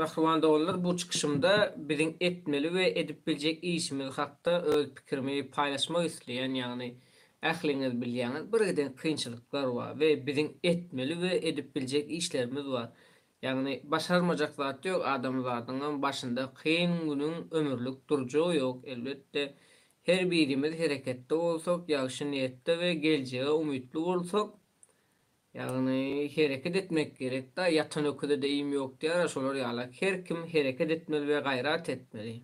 Mähriban doganlar bu çykyşymda biziň etmeli we edip biljek işimiz hakda öz pikirimi paýlaşmak isleýän ýagny ähliňiz bilýäňiz birgiden kynçylyklar bar we biziň etmeli we edip biljek işlerimiz bar Ýagny başarmajak zat ýok adamzadyňam başynda kyn günüň ömürlik durjagy ýok elbetde her birimiz hereketde bolsak ýagşy niýetde we geljege umytly bolsak ýagny hereket etmek gerek da ýatan öküzede iým ýok diýara şolar ýala her kim hereket etmeli we gaýrat etmeli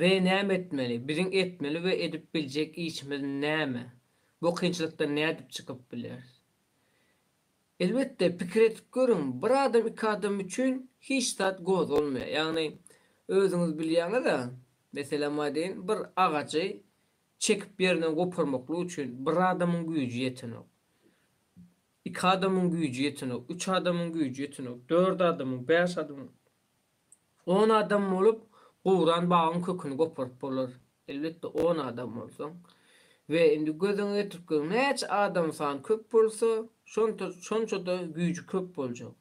we näme etmeli biziň etmeli we edip biljek işimiz näme bu kynçylykdan nädip çykyp bileris Elbetde, pikir edip görüň, bir adam iki adam üçin hiç zat gozgalmaýar. Ýagny, özüňiz bilýäňiz-ä, meselem aýdaýyn, bir agajy çekip ýerinden goparmaklyk üçin bir adamyň güýji ýetenok. Iki adamyň güýji ýetenok, üç adamyň güýji ýetenok, dört adamyň, bäş adamyň. On adam bolup, guran bagyň köküni goparyp bolar. Elbetde, on adam bolsaň. We indi gözüňe getirip gör, näçe adam sany köp bolsa, şonta, şonça-da güýji köp boljak.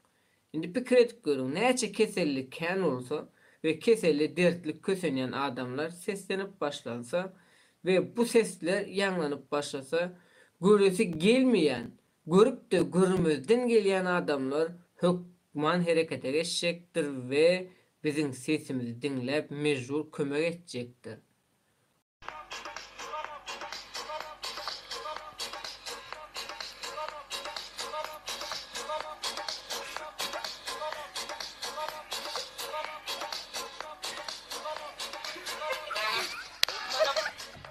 Indi pikir edip görüň, näçe keselli kän bolsa we keseli, dertli kösenýän adamlar seslenip başlansa we bu sesler ýaňlanyp başlasa, göresi gelmeýän Görüp-de görmezden gelýän adamlar hökman herekete geçjekdir we biziň sesimizi diňläp mejbur kömek etjekdir.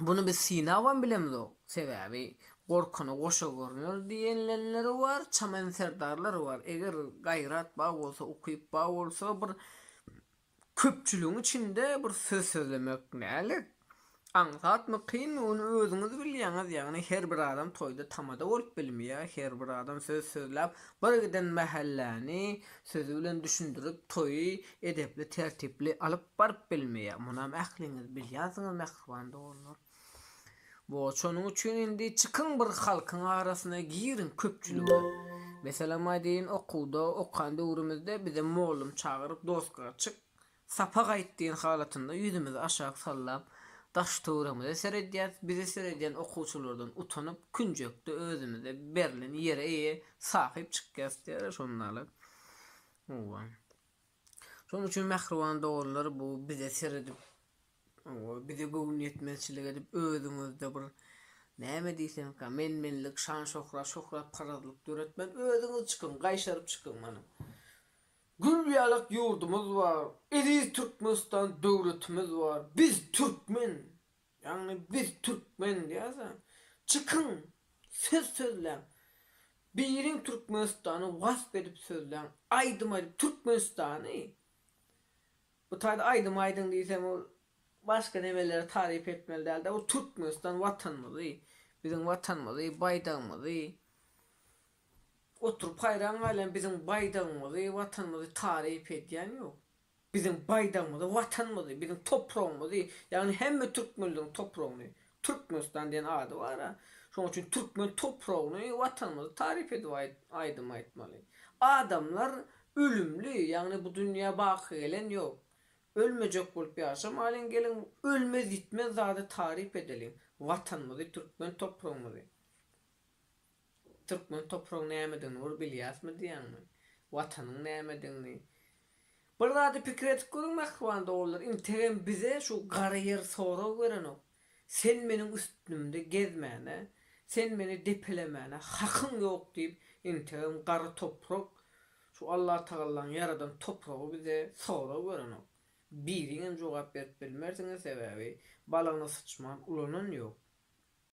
Buny biz synabam bilemizok. Sebäbi gorkana goşa görner diýenlenleri bar, çamen serdarlar bar. Eger gaýrat bar bolsa, ukyp bar bolsa bir köpçüligiň içinde bir söz sözlemek nälet? Aňsatmy, kynmy ony özüňiz bilýäňiz. Ýagny her bir adam toýda tamada bolup bilmeýär. Her bir adam söz sözläp, bir giden mähelläni sözi bilen düşündirip toýy edepli, tertipli alyp Baryp bilmeýär. Munam ähliňiz bilýärsiňiz mähriban doganlar. Bo şonuň üçin indi çykyň bir halkyň arasyna giriň köpçülige. Meselem aýdýyn okuwda okan döwrümizde bize mollum çagyryp doska çyk sapak aýt diýen halatynda ýüzümizi aşak sallap daş töweremize seredýäs bizi seredýän okuwçylardan utanyp künjekde özümize berlen ýere eýe sahyp çykýas diýýärler şondaly. Howa. Şonuň üçin mähriban doganlar bu bize seredip bize göwün ýetmezçilik edip özüňizde bir näme diýseňka men menlik şan şöhrat şöhrat parazlyk döretmän özüňiz çykyň gaýşaryp çykyň mana gül ýalak ýurdumyz bar eziz türkmenistan döwletimiz bar biz türkmen Ýagny biz türkmen diýäsoň çykyň söz sözläň biriň türkmenistany wasp edip sözläň aýdym aýdyp türkmenistany bu taýda aýdym aýdyň diýseň ol başga nemeleri taryp etmeli dälde bu türkmenistan watanymyzy biziň watanymyzy baýdagymyzy oturyp haýran galýan biziň baýdagymyzy watanymyzy taryp edýän ýok Biziň baýdagymyzy, Watanymyzy, biziň topragymyzy, ýagny hemme türkmenligiň topragyny, Türkmenistan diýen ady bar-a, şonuň üçin türkmen topragyny, Watanymyzy taryp edip aýdym aýtmaly. Adamlar ölümli, ýagny bu dünýä baky gelen ýok. Ölmejek bolup ýaşamalyň, geliň, ölmez-ýitmez zady taryp edeliň, Watanymyzy, türkmen topragymyzy. Türkmen topragyň nämedigini bir bilýäsmi diýýäňmi? Watanyň nämedigini? Bir zady pikir edip görüň mähriban dogrular, integem bize şu gara ýer sorag berenok. Sen meniň üstümde gezmäne, sen meni depelemäne hakyň ýok diýip, integem gara toprak, şu Allatagallaň ýaradan topragy bize sorag berenok. Biriňem jogap berip bilmersiňiz, sebäbi balagyna syçman ulanan ýok.